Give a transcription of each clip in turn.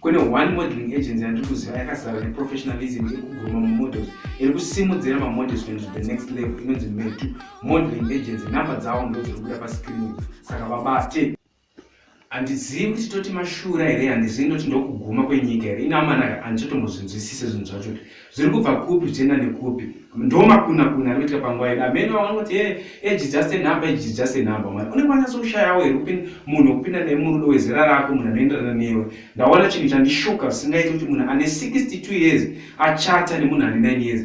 kune one modeling agency yandiri kuziva yakazara neprofessionalism iri kuguruma mumodels iri kusimudzira mamodels kuenda to the next level inonzi metu modeling agency number dzavo ndo dziri kubuda pascreen saka vabate handizivi kuti toti mashura here handizivi ndoti ndokuguma kwenyika here ina amanaka handitotombozvinzwisise zvinhu zvacho kuti zviri kubva kupi zvichienda nekupi ndomakuna kuna ari kuitika panguva yedu amene vamwe vanoti e eh, eji eh, just enumber eji eh, just enumber mwana unenge wanyatso kushayawo here kupin munhu wekupinda naye murudo wezera rako munhu anoenderana newe ndaona chinhu chandishuka zvisingaiti kuti munhu ane 62 years achata nemunhu ane 9 years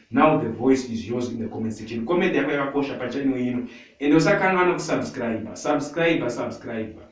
now the voice is yours in the comment section comment yako yakakosha pachannel ino ende usakanwa nokusubscriber subscriber subscriber